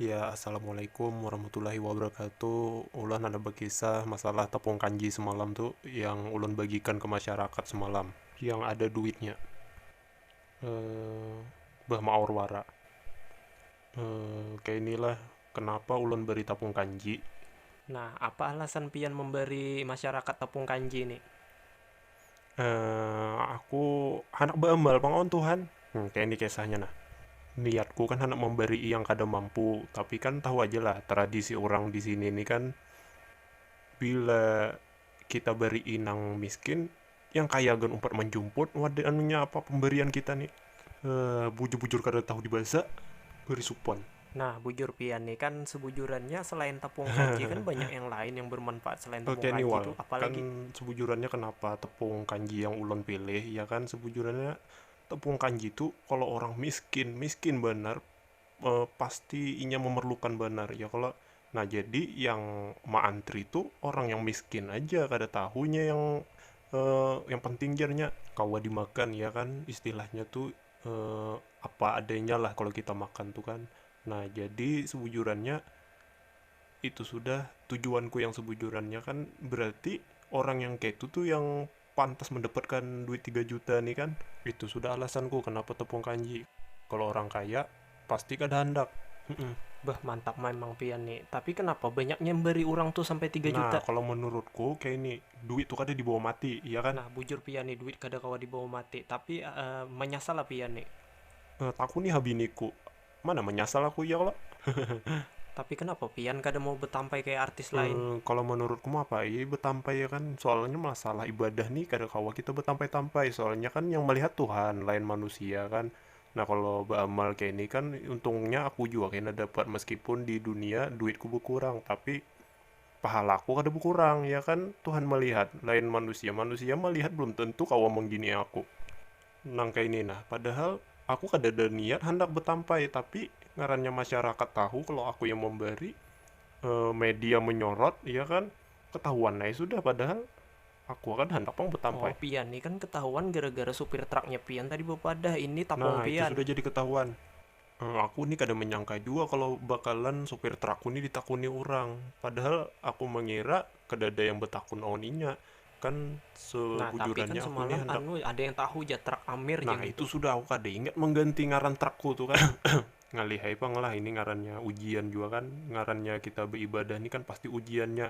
Ya assalamualaikum warahmatullahi wabarakatuh Ulah handak bakisah masalah tepung kanji semalam tu yang ulun bagikan ke masyarakat semalam yang ada duitnya bah maor wara kaya inilah kenapa ulun beri tepung kanji. Nah, apa alasan pian memberi masyarakat tepung kanji ni? Uh, aku handak beambal pang awan Tuhan. Hmm, kayak ini kisahnya nah. Niatku kan handak memberi yang kada mampu, tapi kan tahu aja lah tradisi orang di sini ini kan bila kita beri inang miskin, yang kaya gan umpat menjumput, wadah anunya apa pemberian kita nih. Heh, bujur-bujur kada tahu dibaca, beri supan. Nah, bujur pian nih, kan sebujurannya selain tepung kanji kan banyak yang lain yang bermanfaat selain tepung Oke kanji nih wal, itu apa kan lagi? sebujurannya kenapa tepung kanji yang ulun pilih, ya kan sebujurannya tepung kanji tu kalau orang miskin, miskin banar pasti inya memerlukan banar ya kalo, nah jadi yang meantri tu orang yang miskin aja kada tahu inya yang yang penting jar nya kawa dimakan ya kan istilahnya tu apa adanya lah kalo kita makan tu kan, nah jadi sebujurannya itu sudah tujuanku yang sebujurannya kan berarti orang yang keitu tu yang pantas mendapatkan duit tiga juta nih kan, itu sudah alasanku kenapa tepung kanji, kalo orang kaya pasti kada handak. Humm. Beuh mantap maimang pian ni, tapi kenapa banyak nyambari urang tu sampai tiga juta. Nah kalo menurutku kaya ini, duit tu kada dibawa mati iya kan. Nah bujur pian ni duit kada kawa dibawa mati, tapi manyasal lah pian ni. Takuni ha biniku, Mana manyasal aku iya kalo. Tapi kenapa pian kada mau betampai kaya artis lain? Kalo manurutku mah apa ai betampai ya kan, soalnya masalah ibadah nih kada kawa kita betampai-tampai, soalnya kan yang melihat Tuhan lain manusia kan, nah kalo baamal kaya ini kan untungnya aku jua kena dapat meskipun di dunia duitku bekurang tapi pahalaku kada bekurang ya kan, Tuhan melihat lain manusia, manusia melihat belum tentu kawa mengini aku. Nang kaya ini nah, padahal aku kadada niat handak betampai, tapi ngarannya masyarakat tahu kalau aku yang memberi, media menyorot, iya kan, ketahuan ai sudah, padahal aku kada handak pang betampai. Oh pian ni kan ketahuan gara-gara supir truknya pian tadi bepadah ini tapung pian. Nah itu sudah jadi ketahuan. Aku ni kada manyangka jua kalo bakalan supir trakku ni ditakuni urang, padahal aku mangira kadada yang batakun awan inya, kan sebujurannya aku ni handak Nah itu sudah aku kada ingat mangganti ngaran trakku tu kan ngalih ai pang lah ini ngarannya ujian jua kan ngarannya kita baibadah ni kan pasti ujiannya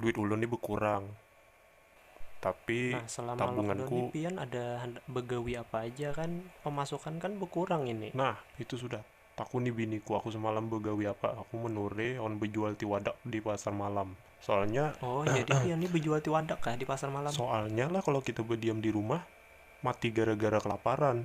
duit ulun ni bekurang tapi nah, selama tabunganku lockdown pian ada begawi apa aja kan pemasukan kan berkurang ini nah itu sudah takut nih biniku aku semalam begawi apa aku menure on bejual tiwadak di pasar malam soalnya oh jadi pian ini bejual tiwadak kah di pasar malam soalnya lah kalau kita berdiam di rumah mati gara-gara kelaparan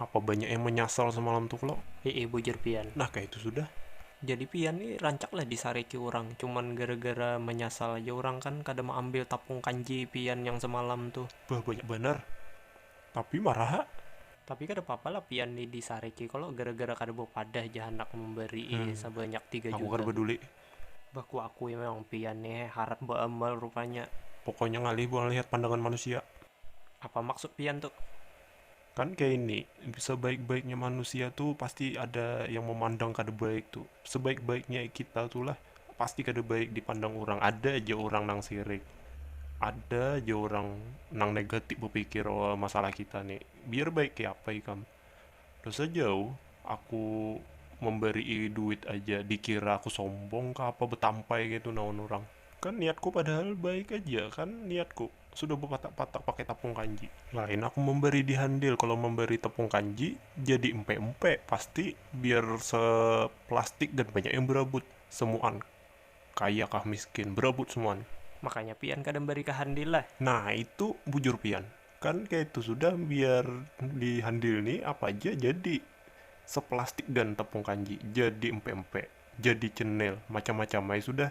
Apa banyak yang menyasal semalam tu klo? Hiih bujur pian. Nah kaya itu sudah. Jadi pian ni rancak lah disariki urang, cuman gara-gara menyasal aja urang kan kada meambil tapung kanji pian yang semalam tu. Bah banyak banar. Tapi marah ha. Tapi kada papa lah pian ni disariki klo gara-gara kada bepadah ja handak membarii sebanyak tiga juta tu. Aku kada peduli. Bah kuakui memang pian ni he harat beamal rupanya. Pokoknya ngalih buang lihat pandangan manusia. Apa maksud pian tu. Kan kaya ini, sebaik-baiknya manusia tu pasti ada yang memandang kada baik tu. Sebaik-baiknya kita tu lah pasti kada baik dipandang urang. Ada ja urang nang sirik. Ada ja urang nang negatif bepikir lawan masalah kita ni. Biar baik kaya apa ikam. Dosa jauh aku membarii duit aja dikira aku sombong ka apa betampai kaytu nawan urang. Kan niatku padahal baik aja kan niatku. Sudah bapatak-patak pakai tapung kanji. Lain aku memberi di handil, kalau memberi tepung kanji jadi empe-empe pasti biar se plastik dan banyak yang berabut. Semuan. Kaya kah miskin, berabut semuan. Makanya pian kada memberi ka handil lah. Nah itu bujur pian. Kan kaya itu sudah biar di handil ni apa haja jadi. Se plastik dan tepung kanji, jadi empe-empe, jadi cenil, macam-macam ai sudah.